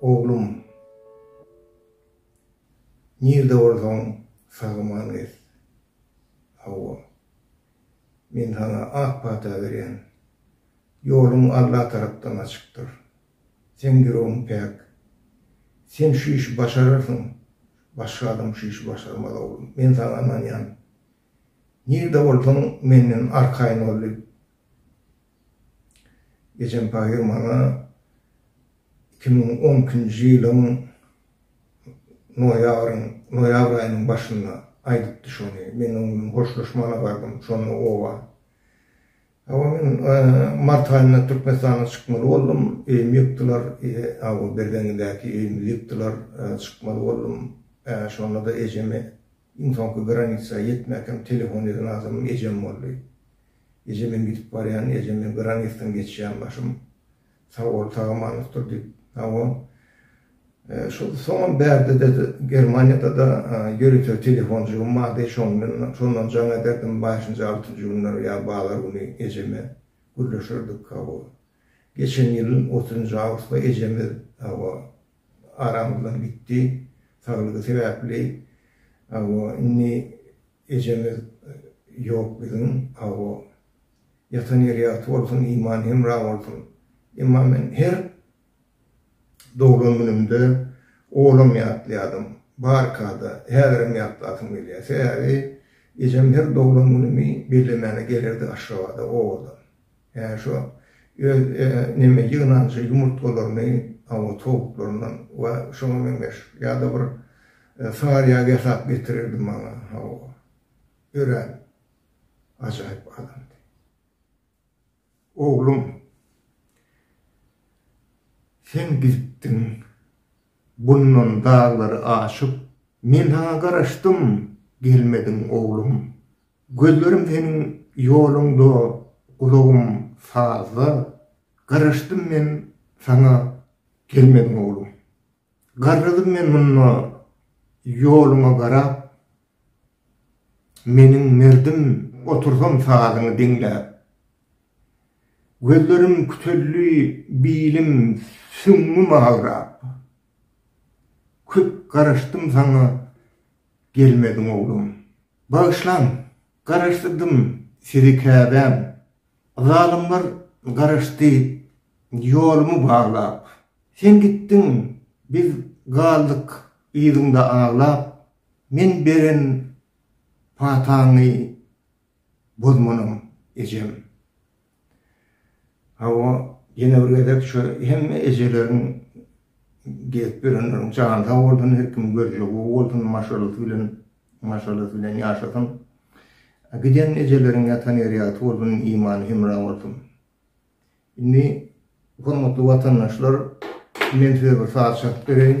Oglum, nirde bolsaň sagaman gez. Hawa, men sana ak pata berýän. Ýoluň Alla tarapdan açykdyr. Seň ýüregiň päk. Sen şu işi başararsyň. Başga adam şu işi başarmaz, oglum. Men saňa ynanýan. Nirde bolsaň, menden arkaýyn bol, diýip, ejem pahyr maňa iki müň on ikinji ýylyň noýabryň, noýabr aýynyň başynda aýdypdy şony. Men oň bilen hoşlaşmana bardym, şonda oba Hawa men mart aýynda Türkmenistana çykmaly boldum. Öýümi ýykdylar. Aw Berzeňňidäki öýümi ýykdylar. Çykmaly boldum. Şonda-da ejemi iň soňky granitsa ýetmäkem telefon eden adamym ejem boldy. Eje men gidip barýan, eje men granitsadan geçýän başym. Sag bol sagamanyňokdyr diýip hawa şol soňam bärde-de Germaniýada-da ýörite telefonjygym bardy şoň bilen şondan jaň ederdim bäşinji altynjy günleri ýa bazar güni ejeme gürleşerdik hawa geçen ýylyň otuzynjy awgustda ejemiz hawa aramyzdan gitdi saglygy sebäpli hawa indi Ejeňiz ýok biziň awo. Ýatan ýeri ýagty bolsun imany hemra bolsun. Emma men her doglan günümde olam ýatlaýadym. Barkada häzirem ýatlasym gelýär. Sebäbi ejem her doglan günümi bellemäne gelerdi Aşgabada owadan. Ýa şo öz neme ýygnanjy ýumurtgalaryny awa towuklaryndan we şoňa meňzeş ýa-da bir saryýag ýasap getirerdi maňa hawa. Örän ajaýyp adamdy. Oglum sen gitdiň bundan daglary aşyp men saňa garaşdym gelmediň oglum. Gözlerim seniň ýoluňda, gulagym sazda, Garaşdym men saňa, gelmediň oglum. Garradym men munda, ýoluňa garap, Meniň merdim, otursam sazyňy diňläp. Gözlerim küteldi, bilim, süňňüm agrap, Köp garaşdym saňa, gelmediň oglum. Bagyşlaň, garaşsyzdym sizi käbäm. Zalymlar garaşdy ýolumy baglap. Sen gitdiň, biz galdyk yzyňda aglap. Men beren pataňy bozmanam, ejem. Hawa, ýene bir gezek şu hemme ejeleriň gezip ýörenleriň jany sag bolsun, her kimiň görjegy gowy bolsun, maşgalasy bilen, maşgalasy bilen ýaşasyn. Giden ejeleriň ýatan ýeri ýagty bolsun, imany hemra bolsun. Indi hormatly watandaşlar, men size bir saz çalyp bereýin.